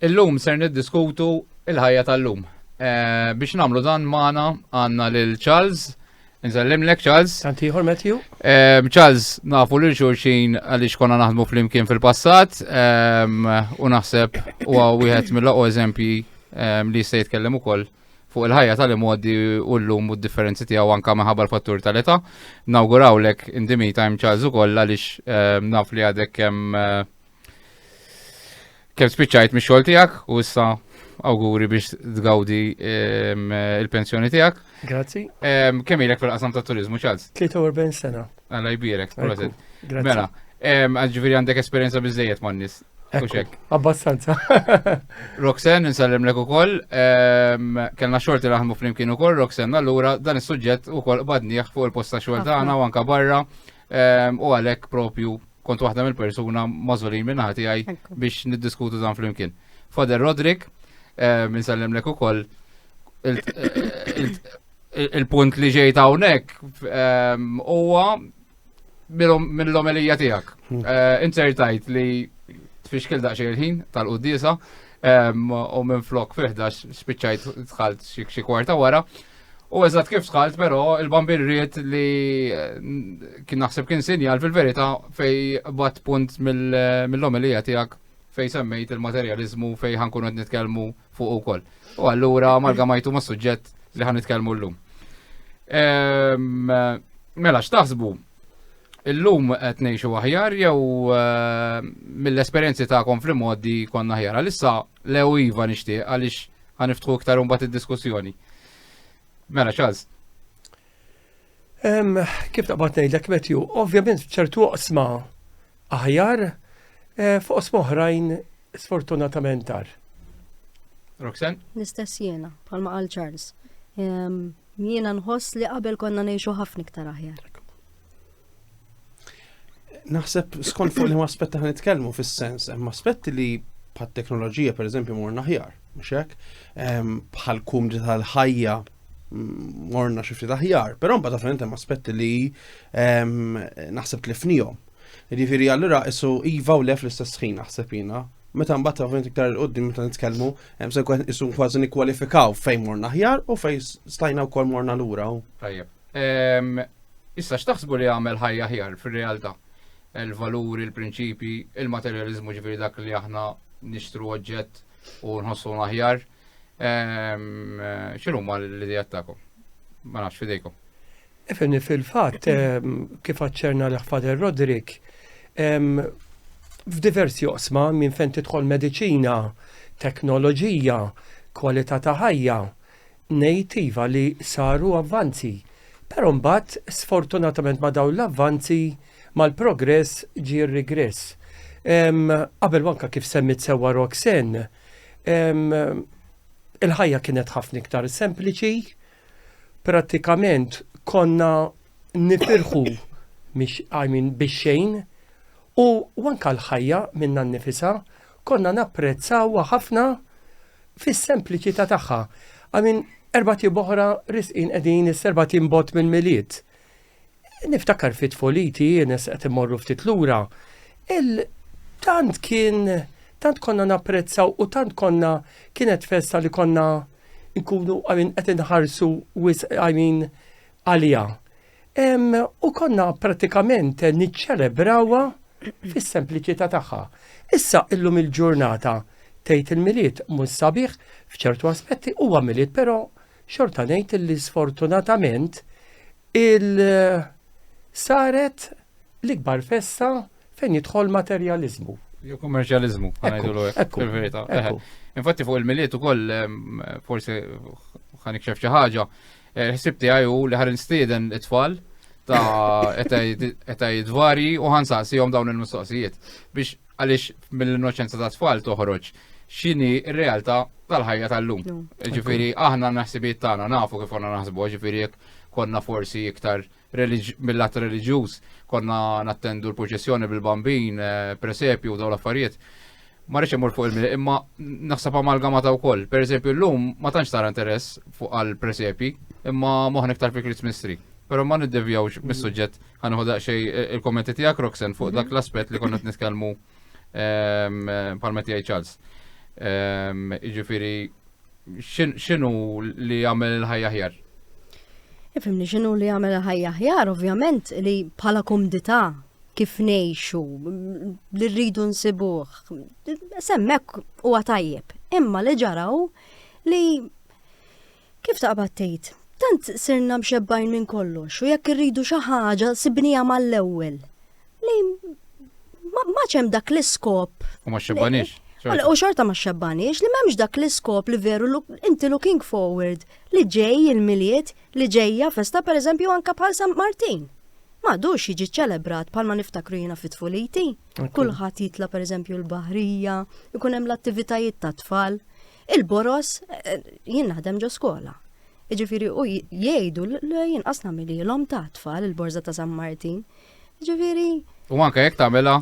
Illum ser niddiskutu il-ħajja tal-lum. Eh, biex namlu dan maħna għanna lil Charles, nżallim lek Charles. Antiħor Matthew. Eh, Charles, nafu lil xurxin għalix konna naħdmu fl-imkien fil-passat, eh, u naħseb u għawihet mill-laqo eżempji li jista' jitkellem ukoll fuq il-ħajja tal-imgħoddi u l-lum u d-differenzi tiegħu anka minħabba l-fattur tal-età. Nawgurawlek in the meantime Charles ukoll għaliex eh, naf li għadek kemm eh, kemm spiċċajt mix-xogħol tiegħek u issa awguri biex tgawdi ehm, il-pensjoni tiegħek. Grazzi. Ehm, kemm ilek fil-qasam ta' turizmu Charles? 43 sena. Alla jbierek, proset. Mela, ehm, ġifieri għandek esperjenza biżejjed man-nies. Ekk, abbastanza. Roxen, nsallem lek ukoll, ehm, kellna xorti naħdmu flimkien ukoll, Roxen, allura dan is-suġġett ukoll qbadnieh fuq il-posta xogħol tagħna u anka barra ehm, u għalhekk propju kont waħda mill-persuna mażolin minn ħati għaj biex niddiskutu dan flimkien. Fader Rodrik, ehm, nsallem lek ukoll il-punt li ġejt hawnhekk huwa mill-omelija tiegħek. Hmm. Eh, Insertajt li tfixkil daqsxejn il-ħin tal-qudiesa u minn flok fiħdax spiċċajt tħalt xi kwarta wara. U eżatt kif tħalt, però il-bambin rrit li eh, kien naħseb kien sinjal fil-verità fej bat punt mill-omelija tiegħek fej semmejt il-materjalizmu fej ħankun qed nitkellmu fuq ukoll. U allura amalgamajtu ma' suġġett li ħan nitkellmu llum. Ehm, mela x'taħsbu? Illum qed ngħixu aħjar jew ehm, mill-esperjenzi tagħkom fl-modi konna aħjar. Għalissa lew iva nixtieq għaliex ħaniftħu iktar imbagħad id-diskussjoni. Mela ċaż. Kif taqbad ngħidlek Matthew, ovvjament ċertu oqsma aħjar eh, fuq oqsma oħrajn sfortunatament tar. Roxen? L-istess jiena, bħalma qal Charles. Jiena nħoss li qabel konna ngħixu ħafna iktar aħjar. Naħseb skont fuq li ma aspetta ħan nitkellmu fis-sens, hemm aspetti li bħat teknoloġija per eżempju morna ħjar, mhux hekk, bħal kum tal-ħajja morna xifti taħjar, pero mba taferent hemm aspetti li naħseb tlifnijom. Ġifiri, allura isu iva u lef l-istess ħin naħseb jina. Meta mbagħad taferent iktar il-qoddim meta nitkellmu, hemm se isu kważi nikkwalifikaw fejn morna ħjar u fejn stajna wkoll morna lura. Tajjeb. Issa x'taħsbu li jagħmel ħajja aħjar fir-realtà? Il-valuri, il-prinċipji, il-materjaliżmu ġifieri dak li aħna nixtru oġġett u nħossu aħjar. Ehm, X'inhu ma l-idejat tagħkom? Ma nafx fidejkom. Ifini fil-fatt ehm, kif aċċerna l-ħfader Rodrik, ehm, f'diversi osma minn fejn tidħol mediċina, teknoloġija, kwalità ta' ħajja, Ngħid iva li saru avvanzi, però mbagħad sfortunatament ma' dawn l-avvanzi, mal-progress ġie r-rigress. Qabel u anke kif semmiet sewwa Roxanne, il-ħajja kienet ħafna iktar sempliċi, prattikament konna nifirħu bix-xejn u anke l-ħajja minnha nnifisha Konna napprezzawha ħafna fis-sempliċità tagħha. I mean, erba' tib oħra risqin qegħdin is-serba' tim bot minn milied. Niftakar fit foliti, nes qed imorru ftit lura, il tant kien tant konna napprezzaw u tant konna kienet festa li konna nkunu għamin qed inħarsu wis għamin għalija. U konna pratikament niċċelebrawha fis-sempliċità tagħha. Issa illum il-ġurnata tgħid il-milied mhux sabiħ f'ċertu aspetti huwa milied, però xorta ngħid li sfortunatament il-saret l-ikbar festa fejn jidħol materjaliżmu. Jew kummerċjaliżmu, ngħidulu hekk fil-verità. Infatti fuq il-milied ukoll forsi ħanikxef xi ħaġa Il-ħsib tiegħi hu li ħarin stieden it-tfal ta' eta jidvari u ħansaqsihom dawn il-mistoqsijiet biex għaliex mill-innoċenza ta' tfal toħroġ xini r-realtà tal-ħajja tal-lum. Ġifiri, aħna naħsibiet tagħna nafu kif għanna naħsbu, ġifiri konna forsi iktar mill-att reliġjuż konna nattendu l-proċessjoni bil-bambin, eh, presepju u daw l-affarijiet. Ma rridx imur fuq il-mili, imma naħseb amalgamata wkoll. Per eżempju, llum ma tantx tara interess fuq għal presepi, imma moħna iktar fi Christmas tree. Pero ma niddevjawx mis-suġġett ħanħu daqsxej eh, il-kommenti tiegħek Roxen fuq dak l-aspett li konna nitkellmu ehm, eh, palmet jgħid Charles. Ehm, jiġifieri xinu li jagħmel il-ħajja ħjar? Ifimni xinu li jagħmel il-ħajja ħjar, ovvjament li bħala kumdità kif nejxu, li rridu nsibuħ, semmek u għatajjeb, imma li ġaraw li kif taqbad tgħid, tant sirna mxebbajn minn kollox u jekk irridu xi ħaġa sibnija mal-ewwel. Lejn ma ċem dak l-iskop. U ma xebbanix. U xorta ma xebbanix li memx dak l-iskop li veru inti looking forward li ġej il-miliet li ġejja festa per eżempju anka bħal San Martin. Ma dux jiġi ċelebrat bħal ma niftakru jina fit fuliti Kulħat jitla per eżempju l-bahrija, ikun hemm l-attivitajiet ta' tfal. Il-boros eh, jien naħdem ġo skola. Iġifiri u jgħidu l-jien asna l-om ta' tfal il-borza ta' San Martin. Ġifieri. U anke jekk tagħmilha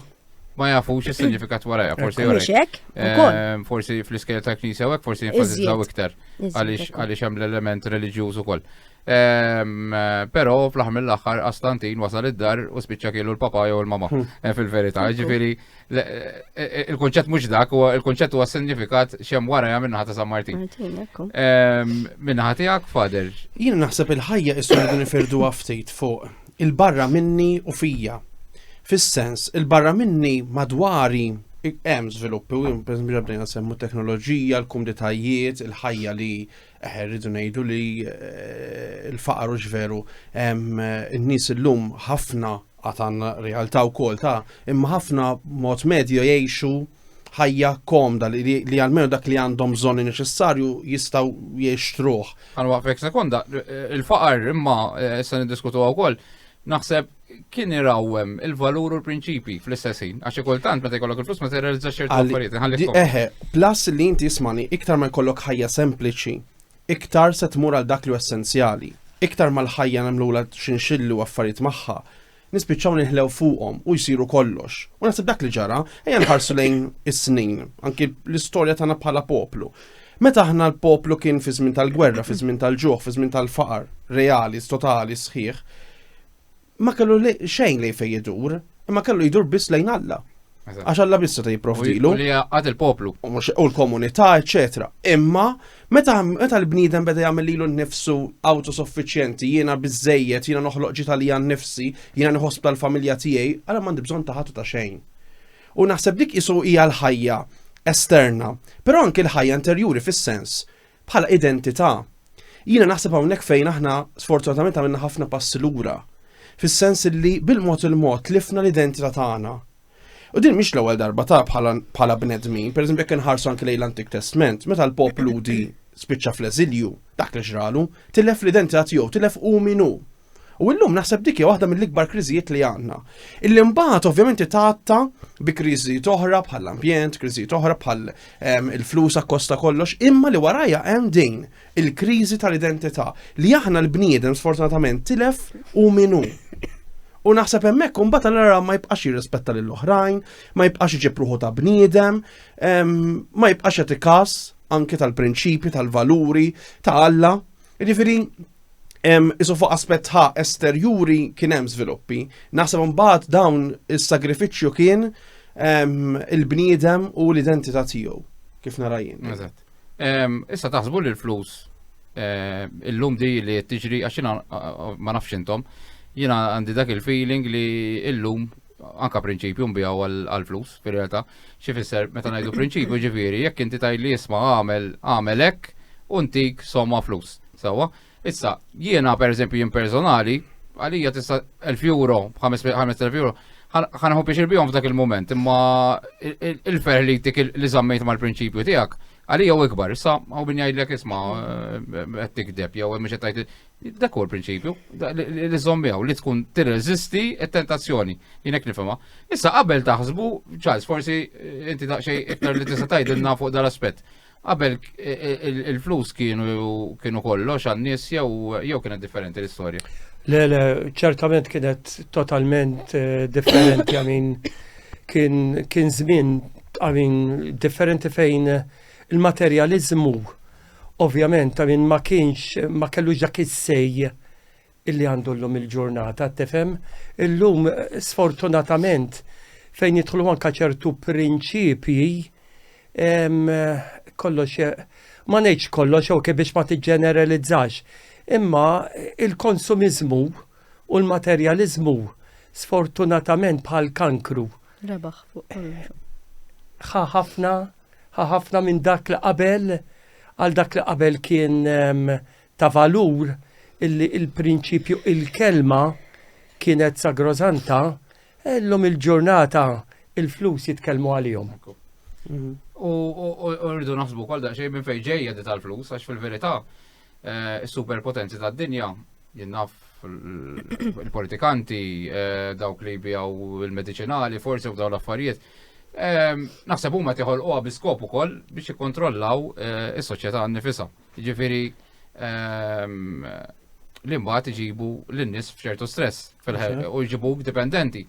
ma jafux is-sinifikat warajja, forsi jurek. Ehm, forsi fl-iskejl ta' knisja u forsi jinfasizzaw iktar għaliex hemm l-element reliġjuż ukoll. Ehm, però fl-aħħar mill-aħħar Astantin wasal id-dar u spiċċa kielu l-papa jew il-mama hmm. eh, fil-verità. Ġifieri Il-konċett mhux dak, u il-konċett huwa sinifikat xem wara jagħmel naħa ta' San Martin. Ehm, Minnaħa tiegħek, Fader. Jien naħseb il-ħajja issu li nifirdu ftit fuq il-barra minni u fija. Fis-sens, il-barra minni madwari hemm żviluppi u bdejna semmu teknoloġija, l-kumditajiet, il-ħajja li Eħe, rridu ngħidu li eh, l-faqar hux veru in-nies illum ħafna għatan realtà wkoll ta' imma ħafna mod medju jgħixu ħajja komda li, li, li għalmenu dak li għandhom bżonni neċessarju jistaw jiextruħ. Għalwa fek sekonda, il-faqar imma eh, se niddiskutu wkoll naħseb kien irawwem il-valur u l-prinċipi fl-istess ħin. Għax kultant meta jkollok il-flus ma terrealizza ċertu affarijiet. Ħalli eħe, plus li inti jismani iktar ma jkollok ħajja sempliċi, iktar se tmur għal dak li essenzjali. Iktar mal-ħajja nagħmlula xinxillu affarijiet magħha, nispiċċaw nihlew fuqhom u jsiru kollox. U naħseb dak li ġara, ejja nħarsu lejn is-snin, anki l-istorja tagħna bħala poplu. Meta aħna l-poplu kien fi żmien tal-gwerra, fi żmien tal-ġuħ, fi żmien tal-faqar, reali, totali, sħiħ, ma kellu xejn lejn fejn jidur, imma kellu jidur biss lejn Alla. Għax Alla biss ta' jipprovdilu. Li għad il-poplu. U l-komunità, eċetera. Imma meta meta l-bniedem beda jagħmel lilu nnifsu autosuffiċjenti, jiena biżejjed, jiena noħloq ġita li għan nifsi, jiena nħossb tal-familja tiegħi, għala m'għandi bżonn ta' ħadd ta' xejn. U naħseb dik qisu hija l-ħajja esterna, però anki l-ħajja interjuri fis-sens bħala identità. Jiena naħseb hawnhekk fejn aħna sfortunatament għamilna ħafna passi lura, fis-sens li bil-mod il-mod tlifna l-identità tagħna. U din mhix l-ewwel darba ta' bħala bnedmin, pereżempju jekk inħarsu anke lejn l-Antik Testament, meta l-poplu di spiċċa fl-eżilju, dak li ġralu, tilef l-identità tiegħu, tilef u minu. U illum naħseb dik hija waħda mill-ikbar kriżijiet li għandna. Illi mbagħad ovvjament tgħatta bi kriżijiet oħra bħall ambjent kriżijiet oħra bħal ehm, il-flus akkosta kollox, imma li warajja hemm din il-kriżi tal-identità li aħna l-bniedem sfortunatament tilef u minu. U naħseb hemmhekk imbagħad allura ma jibqax jirrispetta lil oħrajn, ma jibqax iġib ruħu ta' bniedem, ehm, ma jibqax jagħti każ anke tal-prinċipji, tal-valuri ta' Alla Jiġifieri Isu fuq aspett ħa esterjuri kien hemm żviluppi, naħseb mbagħad dawn is-sagrifiċċju kien il-bniedem u l-identità tiegħu kif narajin. Eżatt. Issa taħsbu li l-flus eh, illum di li tiġri għax ma nafx intom, jiena għandi dak il-feeling li illum anka prinċipju nbijaw għal-flus, fil realtà xi fisser meta ngħidu prinċipju ġifieri, jekk inti tajli jisma' għamel għamel hekk u ntik somma flus. Sewwa, issa jiena pereżempju jien personali, għalija tista' 1000 euro, 5000 euro, ħanħu biex irbihom f'dak il-moment, imma il-fer li tik li zammejt mal-prinċipju tiegħek, għalija u ikbar, issa għaw bin jgħidlek isma' qed tikdeb jew mhux qed Dak huwa l-prinċipju, li żommijaw li tkun tirreżisti t-tentazzjoni, jinek nifhimha. Issa qabel taħsbu, Charles, forsi eh, inti daqsxejn iktar li tista' tgħidilna fuq dal-aspett. Qabel eh, eh, il-flus kienu kienu kollox għan-nies jew jew kienet differenti l-istorja. Le, le, ċertament kienet totalment differenti għamin kien kien żmien għamin differenti fejn il-materjaliżmu Ovvjament ta' min ma kienx ma kellux dak is-sej illi għandu llum il-ġurnata, tifhem? Illum sfortunatament fejn jidħlu anka ċertu prinċipji kollox ma ngħidx kollox ok biex ma tiġġeneralizzax. Imma il-konsumiżmu u l-materjaliżmu sfortunatament bħal kankru Rebaħ fuq kollox. Ħa ħafna, ħa ħafna minn dak li qabel, għal dak li qabel kien ehm, ta' valur illi il-prinċipju il-kelma kienet sagrosanta, illum il-ġurnata il-flus jitkellmu għalihom. Mhm. U rridu naħsbu kol daqxej minn fejn ġejja di tal-flus, għax fil-verità Is-superpotenzi tad-dinja, jien naf il-politikanti, dawk li jbijaw il-mediċinali, forsi u dawn l-affarijiet, naħseb huma tiħolquha bi skop ukoll biex jikkontrollaw is-soċjetà nnifisha. Jiġifieri li mbagħad iġibu lin-nies f'ċertu stress. Fil-ħerqa, u jġibuk dipendenti.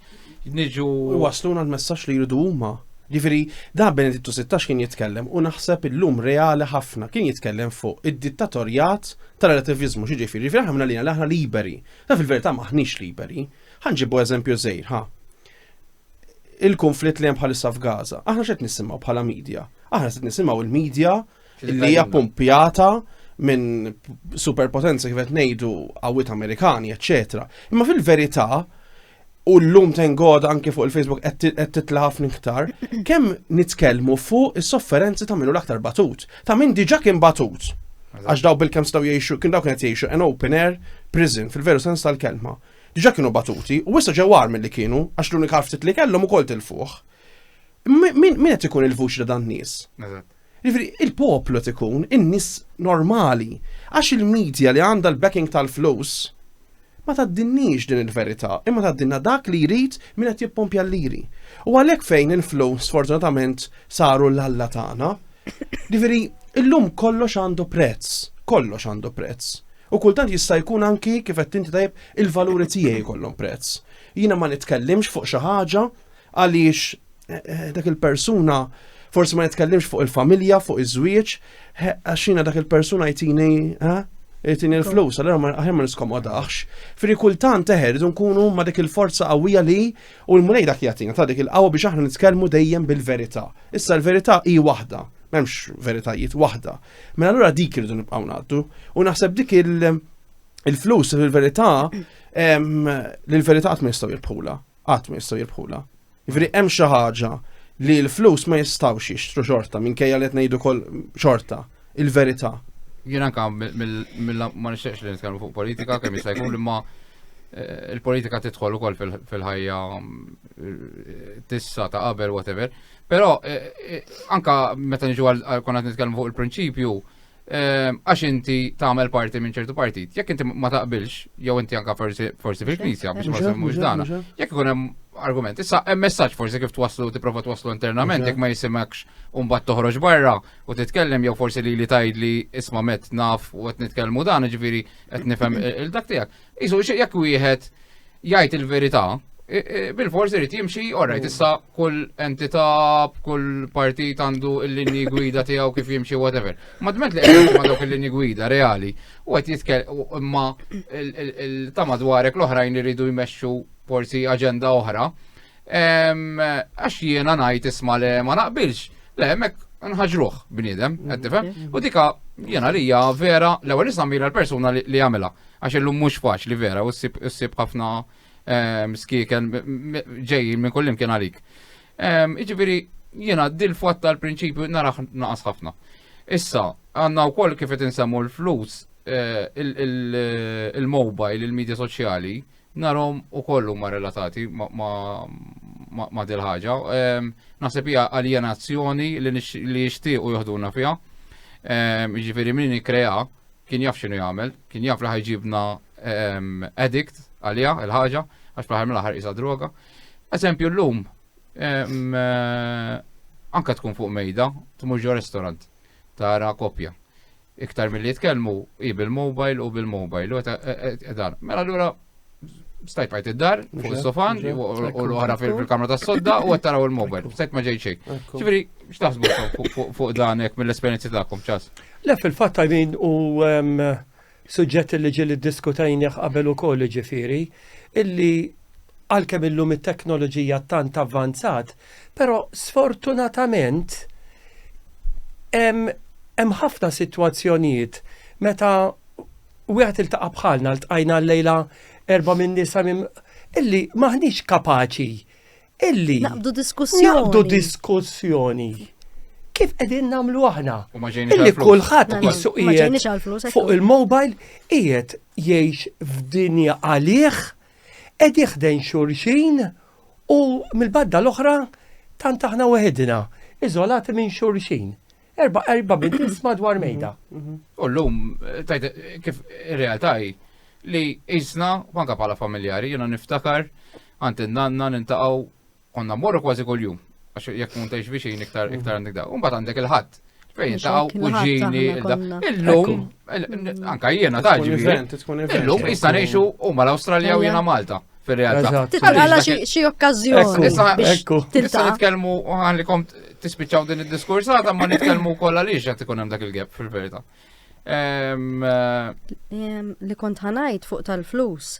Niġu. U waslu għal messaġġ li jridu huma. Ġifieri, da Benedittu 16 kien jitkellem u naħseb illum reali ħafna kien jitkellem fuq id-dittatorjat tal-relativizmu xi ġifieri. Ġifieri aħna li aħna liberi. Ta fil-verità maħniex liberi. Ħanġibu eżempju żejr, ha. Il-konflitt li hemm bħalissa f'Gaza. Aħna x'qed nisimgħu bħala media. Aħna qed nisimgħu il-media li hija pumpjata minn superpotenza kif qed ngħidu qawwiet Amerikani, eċċetera. Imma fil-verità u l-lum tengod anke fuq il-Facebook qed titla' ħafna iktar, kemm nitkellmu fuq is-sofferenzi ta' minnu l-aktar batut, ta' min diġà kien batut. Għax daw bil-kem staw jiexu, kien daw kienet jiexu an open air prison fil-veru sens tal-kelma. Diġa kienu batuti, u issa ġewar mill-li kienu, għax l-unika ftit li kellhom ukoll til-fuħ. Min qed ikun il-vuċi ta' dan nies? Jiġifieri il-poplu qed ikun in-nies normali għax il-media li għandha l-backing tal-flus ma tgħaddinniex din il-verità imma tgħaddilna dak li jrid min qed jippompja l-liri. U għalhekk fejn il-flus sfortunatament saru l-Alla tagħna. Jiġifieri illum kollox għandu prezz, kollox għandu prezz. U kultant jista' jkun anki kif qed inti tajjeb il-valuri tiegħi jkollhom prezz. Jiena ma nitkellimx fuq xi ħaġa Għaliex eh, dak il-persuna forsi ma nitkellimx fuq il-familja, fuq iż-żwieġ, għaxina dak il-persuna jtini jtini l-flus, għallera ma għahir ma niskomodax. Fri kultant teħer, idu nkunu ma dik il-forza qawwija li u l-mulej dak jatina ta' dik il-qawwa biex aħna nitkellmu dejjem bil-verità. Issa l-verità hi waħda, m'hemmx veritajiet waħda. Mela allura dik irridu nibqgħu ngħaddu u naħseb dik il- il-flus fil-verità l-verità qatt ma jistgħu jirbħula. qatt ma jistgħu jirbħula. Jiġifieri hemm xi ħaġa li l-flus ma jistgħux jixtru xorta minkejja li qed ngħidu kol xorta il-verità. Jien anke ma nixtieqx li nitkellmu fuq politika kemm jista' jkun imma eh, il-politika tidħol ukoll fil-ħajja eh, tissa ta' qabel whatever. Però eh, anka meta niġu għal konna nitkellmu fuq il-prinċipju, Ehm, għax inti tagħmel parti minn ċertu partit. Jekk inti ma taqbilx, jew inti anka forsi fil-knisja biex ma semmux dana. Jekk ikun hemm argument, issa hemm messaġġ forsi kif twaslu tipprova twaslu internament jekk ma jisimekx u mbagħad toħroġ barra u titkellem jew forsi li li tgħid li isma' met naf u qed nitkellmu dan, ġifieri qed nifhem il-dak tiegħek. Isu jekk wieħed jgħid il-verità, bil-fors irid jimxi, orrajt, mm. issa kull entità, kull partit għandu l-linji gwida tiegħu kif jimxi, whatever. Ma dment li għedin ma dawk il-linji gwida reali, u għet jitkel imma il-tama dwarek l-oħrajn iridu jmexxu forsi aġenda oħra. Għax jiena ngħid isma' le ma naqbilx, le hemmhekk nħaġruh bniedem, qed tifhem? Mm-hmm. U dika jiena li hija vera l-ewwel nisammira l-persuna li jagħmilha għax illum mhux faċli vera u ssib ħafna skieken ġejjin minn kullim kien għalik. Iġifieri jiena dil-fatt tal-prinċipju naraħ naqas ħafna. Issa, għanna u koll kif insemmu l-flus, eh, il-mobile, il-media soċjali, Narahom ukoll huma relatati ma' dil-ħaġa. Naħseb hija aljenazzjoni li jixtiequ joħduna fiha. Jiġifieri min ikkrea kien jaf x'inhu jagħmel, kien jaf li ħajġibna addict għaliha il-ħaġa għax fl-aħħar mill-aħħar qisha droga. Eżempju llum anke tkun fuq mejda tmur ġo restorant tara koppja. Iktar milli jitkellmu, hi bil-mobile u bil-mobile. u ta- e- e- e- Dan. Mela allura stajpajt id-dar, fuq is-sofan, Ġa, u- ġa. u l-oħra fil- fil-kamra tas-sodda u qed taraw il-mobile. Stajt ma ġejt xejn. Ekku. Ġifieri, x'taħsbu fuq- fuq- fuq dan hekk mill-esperjenzi tagħkom ċas? Le fil-fatt għajmin u em, suġġett li ġili diskutajnieh qabel ukoll ġifiri, illi għalkemm illum it-teknoloġija tant avvanzat, Però sfortunatament hemm ħafna sitwazzjonijiet meta wieħed iltaqa' bħalna ltqajna llejla erba' minn nisa illi maħniex kapaċi illi naqbdu diskussjoni. Naqbdu diskussjoni. Kif qegħdin nagħmlu aħna? Illi kulħadd qisu qiegħed fuq il-mobile qiegħed jgħix f'dinja għalih Qegħdi ħdejn xulxin u mill-badda l-oħra tant aħna weħidna, iżolati minn xulxin. Erba' erba' bidis madwar mhm, mejda. Mhm. U llum tajt kif ir-realtà hi li isna anke bħala familjari jiena niftakar għand in-nanna nintaqgħu Konna mmorru kważi kuljum, għax jekk tkun tgħix viċin iktar mhm. iktar għandek daw. Imbagħad għandek il-ħadd. Fejn taw kuġini illum anka jiena taġi. Illum jista' ngħixu huma l-Awstralja u jiena Malta fil-realtà. Għala xie okkazjoni. Ekku. Tista' nitkellmu għalli kom tispiċċaw din id-diskurs għadha ma nitkellmu kollha li x'qed ikun hemm dak il-gap fil-verità. Eh, li kont ħanajt fuq tal-flus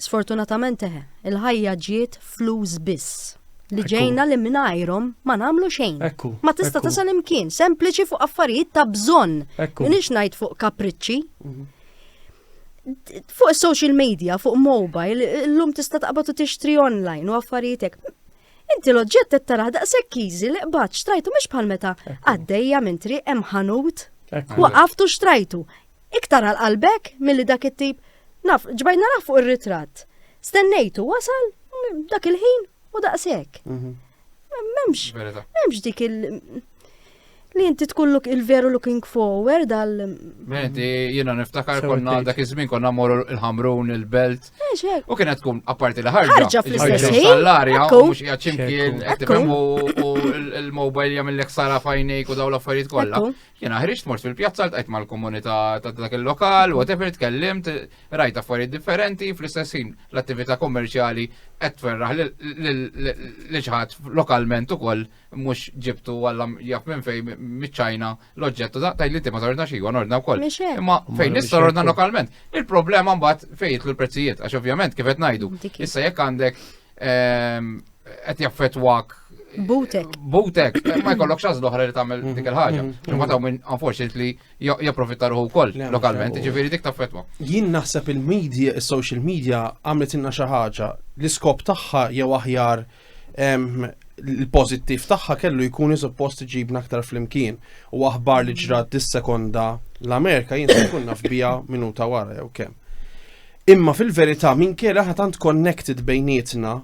Sfortunatament eħe, il-ħajja ġiet flus biss. Li ġejna li mingħajrhom ma nagħmlu xejn. Ma tista' tasal imkien, sempliċi fuq affarijiet ta' bżonn. Minix ngħid fuq kapriċċi. Mhm. Fuq social media, fuq mobile, l-lum tista' taqbad u tixtri online u affarijietek. Inti l-oġġett qed taraħ daqshekk easy li qbad xtrajtu mhux bħal meta għaddejja minn triq hemm ħanut. Waqaftu xtrajtu. Iktar għal qalbek milli dak it-tip, naf, ġbajt narah fuq ir-ritratt. Stennejtu wasal dak il-ħin u daqshekk. Mhm. Memx, memx dik il- li inti tkun look il-veru looking forward għal. Menti, jina niftakar konna dak iż-żmien konna morru il-ħamrun, il-belt. U kienet tkun apparti li ħarġa. Ħarġa fl-istess ħin. Sallarja, u mhux qiegħed ximkien, qed u l-mobile jagħmel lek sara fajnejk u daw l-affarijiet kollha. Jena ħriġt mort fil-pjazza l-tqajt mal-komunità ta' dak il-lokal, whatever, tkellimt, rajt affarijiet differenti, fl-istess ħin l-attività kommerċjali qed tferraħ li ċħat lokalment ukoll mhux ġibtu għalla jaf minn fejn miċ-Ċajna l-oġġettu da tajli inti ma torna xi għan ordna wkoll. Imma fejn nista' ordna lokalment. Il-problema mbagħad fejn jitlu l-prezzijiet għax ovvjament kif qed ngħidu. Issa jekk għandek ehm, qed jaffetwak Butek. Butek, eh, ma jkollok xaz l-oħra li tagħmel mm-hmm. dik il-ħaġa. Mm-hmm. Imma ta' minn unfortunately japprofitta ruħu wkoll lokalment, ġifieri dik taffetwa. Jien naħseb il-media, is-social media għamlet inna xi ħaġa l-iskop tagħha jew aħjar l-pozittiv tagħha kellu jkun suppost ġibna aktar flimkien u aħbar li ġrat dis-sekonda l-Amerika jien se kunna f'bija minuta wara jew kemm. Imma fil-verità minn kera ħatant connected bejnietna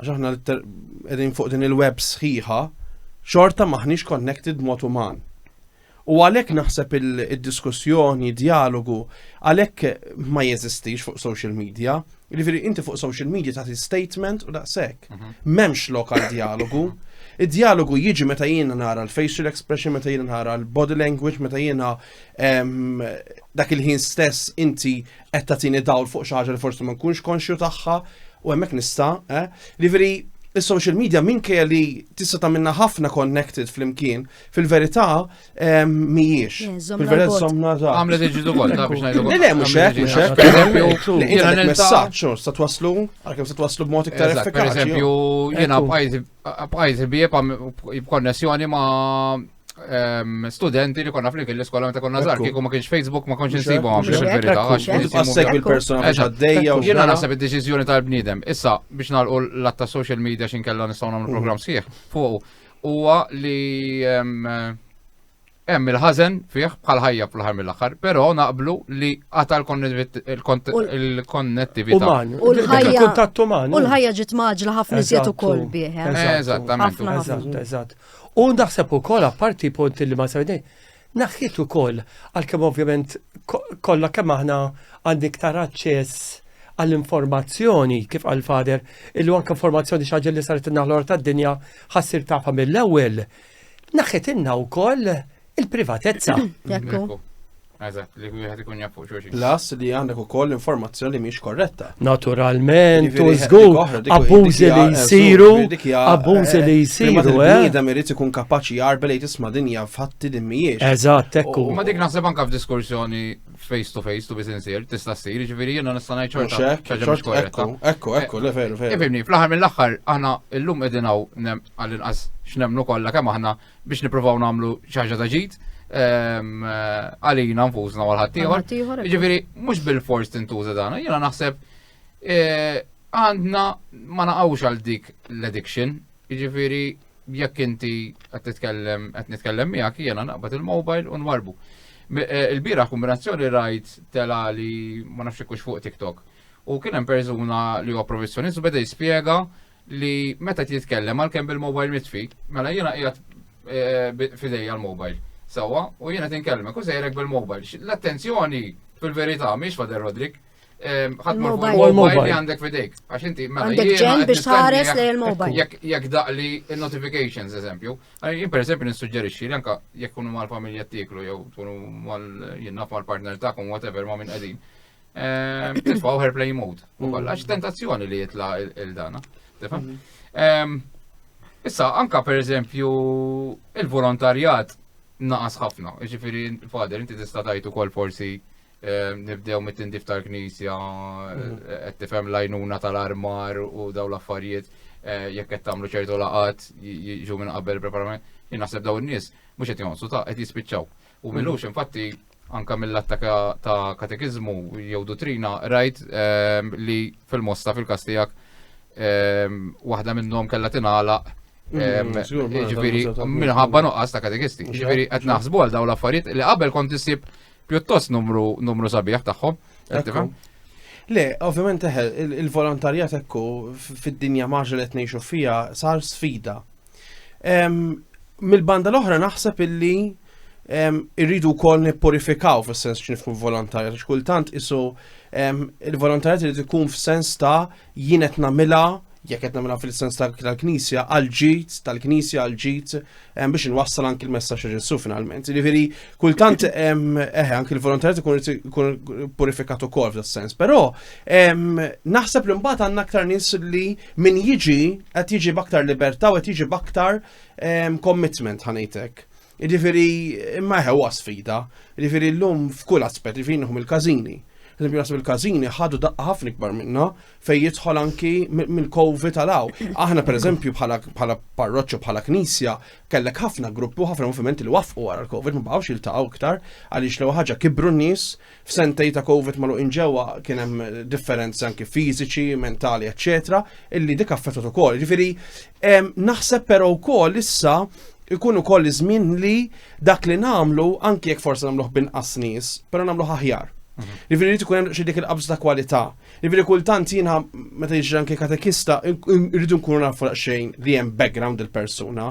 għax aħna qegħdin fuq din il-web sħiħa, xorta maħniex connected mod uman. U għalhekk naħseb il-diskussjoni, dialogu, għalhekk ma jeżistix fuq social media. Jiġifieri inti fuq social media tagħti statement u daqshekk. Mhm. M'hemmx lokal dialogu. Id-dialogu jiġi meta jiena nara l-facial expression, meta jiena nara l-body language, meta jiena dak il-ħin stess inti qed tagħtini dawl fuq xi ħaġa li forsi ma nkunx konxju tagħha u hemmhekk nista', eh? Liveri is-social media minkejja li tista' tagħmilna ħafna connected flimkien, fil-verità ehm, mhijiex. Eh, żommna Fil-verità l-bot. somna ta' Għamlet iġidu kol, ta' biex ngħidu Le, le, mhux hekk, mhux hekk. Per eżempju, Jiena jiena għandek nilta' messaġġ, u sta twasslu, għalkemm sta twasslu b'mod iktar Eżatt, per effikaċi. eżempju, jiena Ekku. bqajt bqajt bieb b'konnessjoni ma' ehm, studenti li konna flimkien l-iskola meta konna żgħar kieku ma kienx Facebook ma kontx insibu għam biex il-verità għax Għassek il-persuna biex għaddejja u Jiena naħseb id-deċiżjoni tal-bniedem. Issa biex nagħlqu l-atta social media xin kella nistgħu nagħmlu mm. programm sħiħ fuq huwa li ehm, hemm il-ħażen fih bħal ħajja fl-ħar mill-aħħar, però naqblu li għata l-konnettività. U l-ħajja. U l-ħajja ġiet maġla ħafna iżjed ukoll bih. Eh? Eżattament. Eżatt, eżatt. U naħseb ukoll apparti punt li ma semmejt, naħħiet ukoll għalkemm ovvjament kollha kemm aħna għandi iktar aċċess għall-informazzjoni kif għal fader illu anke informazzjoni xi ħaġa li saret in-naħlor tad-dinja ħassir tafha mill-ewwel. Naħħet inna wkoll Il-privatezza. Ekku. Eżatt, li wieħed ikun jaf fuq xulxin. Plus li għandek ukoll informazzjoni li mhix korretta. Naturalment, u żgur, abbużi li jsiru, abbużi li jsiru. Bniedem eh? irid ikun kapaċi jarbel li tisma' dinja fatti li mhijiex. Eżatt, ekku. Ma dik naħseb anke f'diskursjoni face to face, to be sincere, tista' ssir, ġifieri jiena nista' ngħid ċorta. Ekku, ekku, ekku, le veru, veru. Ifimni, fl-aħħar mill-aħħar aħna llum qegħdin hawn għall-inqas x'nemmnu kollha kemm aħna biex nippruvaw nagħmlu xi ħaġa ta' ġid ehm, eh, għalina nfusna għal ħaddieħor. Ġifieri mhux bil-fors tintuża dan, jiena naħseb eh, għandna ma naqgħux għal dik l-addiction, jiġifieri jekk inti qed titkellem qed nitkellem miegħek jiena naqbad il-mobile u nwarbu. Eh, il-bira kombinazzjoni rajt tela li ma nafx kux fuq TikTok. U kien hemm persuna li huwa professjonist u beda jispjega li meta titkellem għalkemm bil-mobile mitfi, mela jiena qiegħed eh, fidejja l-mobile. Sawa, u jiena tinkellmek u sejrek bil-mobile. L-attenzjoni fil-verità mhix fader Rodrik. Ehm, ħadd mobile li għandek fidejk. Għax inti mela għandek ġen biex tħares lejn il-mobile. Jekk daqli il-notifications, eżempju. Jien per eżempju nissuġġerixxi li anka jekk kunu mal-familja tiklu jew kunu mal jinnaf mal-partner tagħkom whatever ma' minn qegħdin. Ehm, Tifqaw her play mode. U koll, għax tentazzjoni li jitla il-dana. Tifhem? Ehm, issa, anka per eżempju, il-volontarjat naqas ħafna. Ġifiri, fader, inti tista' tajtu kol forsi ehm, nibdew mit-tindif tal-knisja, mhm. eh, qed tifhem lajnuna tal-armar u daw l-affarijiet eh, jekk qed tagħmlu ċertu laqat jiġu minn qabel preparament. Jien naħseb daw in-nies mhux qed jonsu ta' qed jispiċċaw. U minux infatti anka mill-atta ta' katekizmu jew dottrina rajt ehm, li fil-mosta fil-kastijak ehm, waħda minnhom kellha tingħalaq Ġifiri, minħabba nuqqas ta' katekisti. Ġifiri, għet naħsbu għal daw l-affarijiet li qabel kont isib pjuttost numru numru sabiħ tagħhom. Le, ovvjament eħel, il-volontarjat ekku fid-dinja maġa li tnejxu fija sar sfida. Mill-banda l-oħra naħseb illi irridu wkoll nippurifikaw fis-sens x'nifhmu volontarja għax kultant isu il-volontarjat irid ikun f'sens ta' jien qed nagħmilha jekk qed nagħmilha fil-sens tal-Knisja għal ġid tal-Knisja għal ġid biex inwassal anki l-messaġġ Ġesu finalment. Jiġifieri kultant eħe anki l-volontarjat ikun purifikat ukoll f'das-sens, però naħseb li mbagħad għandna aktar nies li Min jiġi qed jiġi b'aktar libertà u qed jiġi b'aktar ehm, commitment ħanejtek. Ġifieri imma ħewwa sfida, ġifieri llum f'kull aspett, ġifieri nħum il-każini. Eżempju nasib il-każini ħadu daqqa ħafna ikbar minna fejn jidħol anki mill-kovi tal-aw. Aħna pereżempju bħala bħala parroċċa bħala knisja kellek ħafna gruppi u ħafna movimenti li wafqu wara l-Covid ma baqgħux jiltaqgħu iktar għaliex l ħaġa kibru n-nies f'sentej ta' Covid magħluqin ġewwa kien hemm differenzi anki fiżiċi, mentali, eċċetera, illi dik affettat ukoll. Ġifieri naħseb però wkoll issa ikun ukoll iż-żmien li dak li nagħmlu anki jekk forsi nagħmluh binqas nies, però nagħmluh aħjar. Mhm. Ġifieri li tkun hemm xi dik il-qabż ta' kwalità. Ġifieri kultant jiena meta jiġri anke katekista rridu nkunu nafu xejn li hemm background il-persuna.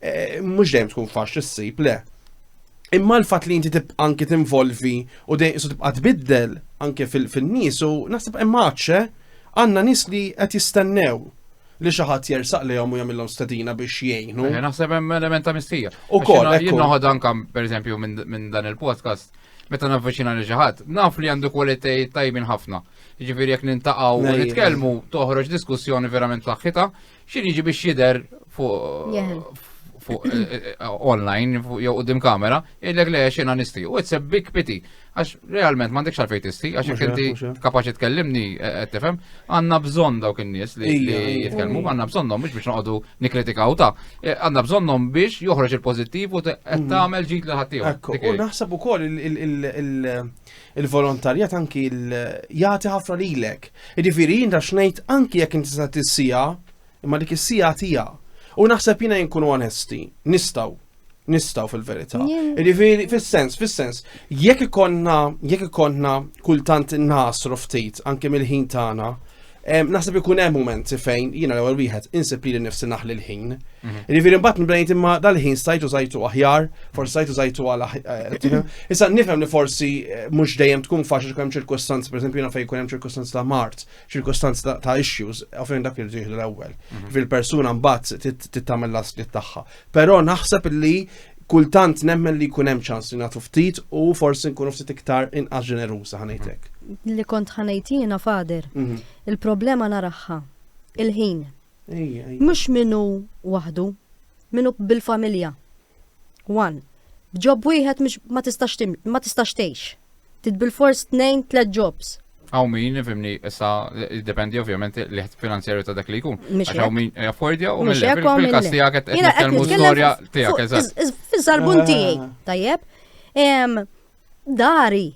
Eh, mhux dejjem tkun faċli ssib le. Imma l-fatt li inti tibqa' anki tinvolvi u dejjem isu tibqa' tbiddel anke fin-nies u naħseb hemm għadxe eh? għandna nies li qed jistennew li xi ħadd jersaq lehom u jagħmilhom stedina biex jgħinu. Eh, naħseb hemm element ta' mistija. Ukoll jien noħod anke pereżempju minn dan il-podcast meta navviċina li ġaħat, naf li għandu kwalitej tajbin ħafna. Ġifiri jek nintaqaw u nitkellmu toħroġ diskussjoni verament saħħita, Xi jiġi biex jidher fuq fuq eh, eh, eh, online jew qudiem kamera, illek le xina nisti. U it's a big pity. Għax realment m'għandekx għalfejn tisti, għax jekk inti kapaċi tkellimni qed tifhem, għandna bżonn dawk in-nies li jitkellmu, għandna bżonnhom mhux biex noqogħdu nikkritikaw ta. Għandna bżonnhom biex joħroġ il-pożittiv u qed mm. tagħmel ġid li ħaddieħor. U naħseb ukoll il- Il-volontarjat anki jagħti ħafna lilek. Jiġifieri jinta xnejt anki jekk inti sa tissija, imma dik is-sija tija. U naħseb jiena jinkunu onesti, nistaw, nistaw fil-verità. Jiġifieri fis-sens, fis-sens, jekk ikonna, jekk ikonna kultant nasru ftit anke mill-ħin tagħna, Naħseb ikun hemm mument fejn jiena l-ewwel wieħed insib li nifsi naħli l-ħin. Mhm. Jiġifieri mbagħad nibdejt imma dal-ħin stajtu żajtu aħjar, forsi stajtu żajtu għal eh, Issa nifhem li forsi eh, mhux dejjem tkun faċli tkun hemm ċirkustanzi, pereżempju jiena fejn jkun hemm ċirkustanzi ta' mart, ċirkustanzi ta' issues, fejn dak li jieħdu l-ewwel. Mhm. Fil-persuna mbagħad tittamel l-aslit tagħha. Però naħseb li kultant nemmen li jkun hemm ċans li nagħtu ftit u forsi nkunu ftit iktar inqas ġeneruża ħanejtek. Li kont ħanejt jiena fader. Mhm. Il-problema naraħħa. Il-ħin. Mhux minnu waħdu, minnu bil-familja. One. B'ġob wieħed ma tistax tgħix. Trid bilfors tnejn tliet jobs. Hawn min, fimni, issa jiddependi ovvjament l-ħed finanzjarju ta' dak li jkun. Għax hawn min jaffordja u minn hekk hawn il-każ tiegħek qed nitkellmu storja tiegħek eżatt. Fiż-żarbun ah. tiegħi, tajjeb. Dari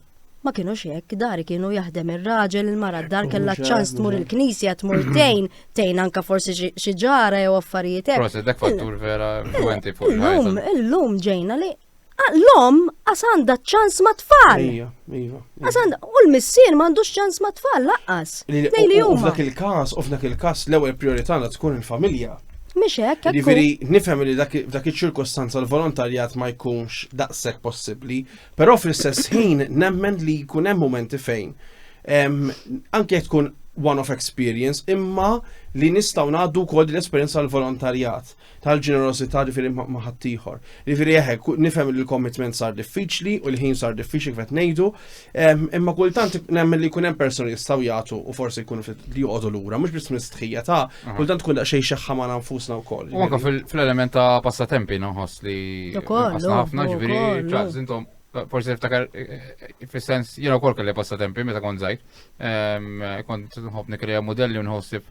ma kienu hekk, dari kienu jaħdem ir-raġel, il-mara d-dar kellha ċans tmur il-knisja, tmur tejn, tejn anka forsi xi ġara jew affarijiet hekk. Proset dak fattur vera influenti fuq il-lum. Illum ġejna li Ah, l-om għas għandha ċans ma' tfal. Iva, iva. U l-missier m'għandux ċans ma' tfal laqqas. Nejli huma. F'dak il-każ, u f'dak il-każ l-ewwel priorità għandha tkun il-familja. Mhix hekk. Jiġifieri nifhem li dak iċ-ċirkostanza l-volontarjat ma jkunx daqshekk possibbli, però fl-istess ħin nemmen li jkun hemm momenti fejn anke tkun one-off experience, imma li nistgħu ngħaddu wkoll l-esperjenza l-volontarjat. tal-ġenerosità ġifieri ma' ħaddieħor. Ġifieri eħe, nifhem li l-commitment sar diffiċli u l-ħin sar diffiċli kif ngħidu, ehm, imma kultant nemmen li jkun hemm persuni jistgħu jagħtu u forsi jkunu li joqogħdu lura, mhux biss mistħija ta' kultant tkun daqsxejn xeħħa ma' nfusna wkoll. U anke fl-element ta' passatempi noħos li ħafna ġifieri ċaqs intom forsi niftakar eh, eh, fis-sens jiena wkoll kelli passatempi meta kont żgħir. Ehm, kont nħobb nikrea modelli u nħossib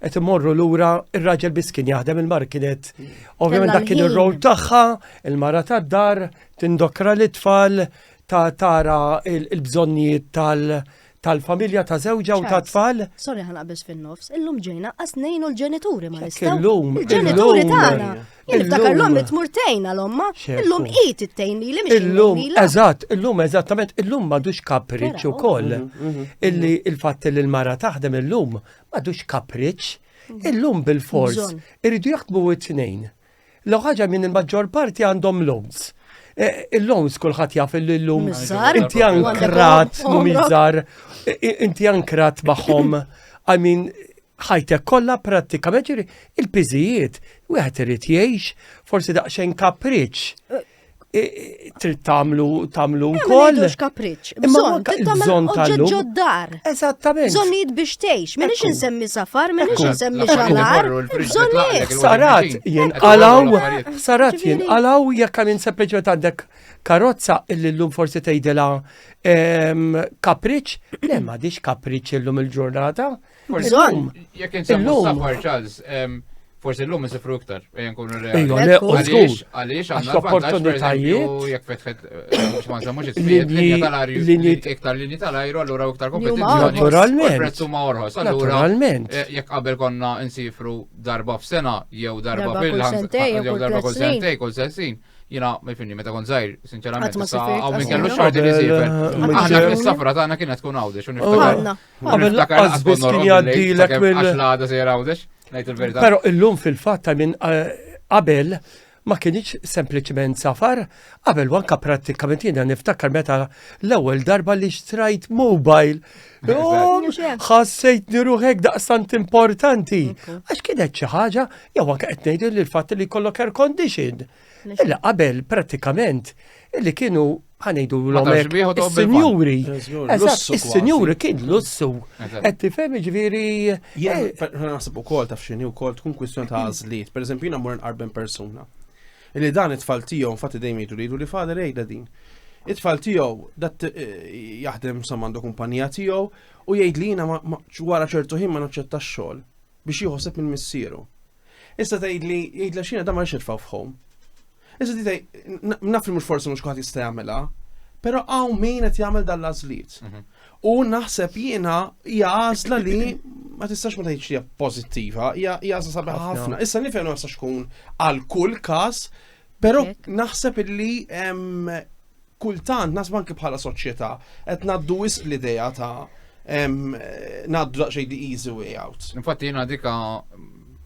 qed imorru lura ir-raġel biss kien jaħdem il-mar kienet ovvjament dak kien ir-rol tagħha, il-mara tad-dar, tindokra l tfal ta' tara il-bżonnijiet tal- tal-familja ta' żewġa u ta' tfal. Sorry ħana biex fin-nofs, illum ġejna qas nejnu l-ġenituri ma nistgħu. Illum. Il-ġenituri tagħna. Niftakar l-om tmurtejn għal-omma, illum qid ittejn li li Illum, eżatt, illum eżattament, illum m'għadux kapriċċ ukoll. Mhm, mhm, mhm. Illi il-fatt li l-mara taħdem illum Madux kapriċ, mhm. illum bil-fors, irridu jaħdmu it-tnejn. Law ħaġa minn il-maġġor parti għandhom loans. E, il-loans kulħadd jaf il-lum. Inti ankrat, mumizar, inti ankrat maħom. I mean, ħajtek kollha prattikament ġiri il-piżijiet wieħed irid jgħix forsi daqsxejn kapriċ. trid tagħmlu tagħmlu wkoll. Mhux kapriċċ. Bżonn bżonn tal-lum. ġoddar. Eżattament. Bżonnijiet biex tgħix. Minix insemmi safar, minix insemmi xalar. Bżonnijiet. Sarat jinqalaw, sarat jinqalaw jekk hemm sempliċement għandek karozza illi llum forsi tgħidilha kapriċċ, le m'għadix kapriċċ illum il-ġurnata. il ġurnata Bżonn. Jekk insemmu safar Charles, forsi l-lum nsifru iktar, ejja nkunu reali. Għaliex, għaliex, għandna opportunitajiet. Jekk fetħet, eh, mux ma nżammux it-trijet, linja tal-arju, iktar linja tal-ajru, allura iktar kompetizjoni. Naturalment. Prezzu ma orħos, allura. Eh, jekk qabel konna nsifru darba f'sena, jew darba fil-ħan, jew darba kull sentej, kull sensin jina ma jfinni meta kon zaħir, sinċerament. Għaw minn kellu xorti li zifer. Għanna fil-safra ta' għanna kienet tkun għawdi, xun Għamil laqqas biss kien jgħaddilek mill. Għax l-għada sejra għawdex, najt il-verita. Pero illum fil-fat ta' minn eh, qabel ma kienieċ sempliciment safar, qabel wanka pratikament jina niftakar meta l-ewwel darba li xtrajt mobile. Oh, ħassejt niruħek daqstant importanti. Għax kienet xi ħaġa, jew anke qed ngħidu li l-fatt li kollok air condition. Illa qabel pratikament illi kienu ħanejdu l-omek. Is-sinjuri. Is-sinjuri kien lussu. Qed tifhem ġifieri. Jien eh, naħseb ukoll taf x'inhi wkoll tkun kwistjoni ta' għażliet. Pereżempju jiena mur nqarben persuna. Illi dan it-tfal tiegħu infatti dejjem jgħidu li li fader jgħidha din. It-tfal tiegħu dat eh, jaħdem sa għandu kumpanija tiegħu u jgħid li jiena wara ċertu ħin ma naċċettax xogħol biex jieħoseb minn missieru. Issa tgħidli, jgħidla xina da ma nix nitfgħu f'ħom. Issa di tgħid, naf li mhux forsi mhux kulħadd jista' jagħmilha, però hawn min qed jagħmel dan l-għażliet. Mhm. U naħseb jiena hija għażla li ma tistax ma tgħidx hija pożittiva, hija għażla sabiħa ħafna. Issa nifhem ma tkun għal kull każ, però naħseb illi Kultant naħseb anke bħala soċjetà qed ngħaddu wisq l-idea ta' ngħaddu daqsxejn the easy way out. Infatti jiena dika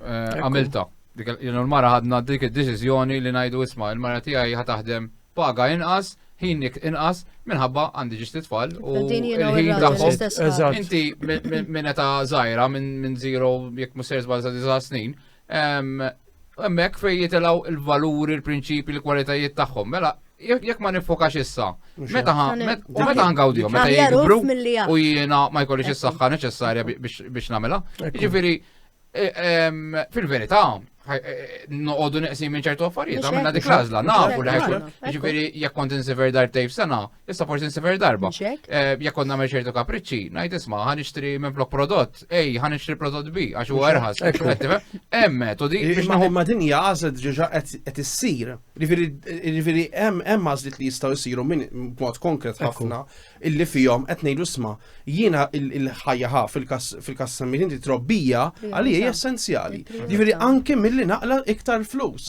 eh, għamilta. Dik il-mara ħadna dik id-deċiżjoni li ngħidu isma' il-mara tiegħi ħa taħdem paga inqas, ħinik inqas, minħabba għandi ġisti tfal u l-ħin tagħhom. Inti minn ta' żgħira minn zero jekk musser żbal sa' snin, Hemmhekk fejn jitilgħu l-valuri, l-prinċipji, l-kwalitajiet tagħhom. Mela, jekk ma nifokax issa, meta u meta ngawdihom, meta jikbru u jiena ma jkollix is-saħħa neċessarja biex nagħmilha. Jiġifieri e, fil-verità, e, e, noqogħdu neqsim minn ċertu affarijiet, għamilna dik l-għażla, nafu li ħajkun. Jiġifieri jekk kont insiver dar tejf sena, Issa forsi nsifer darba. Eh, jekk konna nagħmel ċertu kapriċċi, ngħid isma' ħan nixtri minn flok prodott, ej, ħan nixtri prodott bi għax huwa erħas. Hemm metodi. Imma imma din hija għażlet ġeġa qed issir. Jiġifieri hemm hemm għażlit li jistgħu jsiru minn mod konkret ħafna illi fihom qed ngħidu isma' jiena il-ħajja ħaf fil-każ semmi inti trobbija għalija hija essenzjali. Jiġifieri anke milli naqla iktar flus.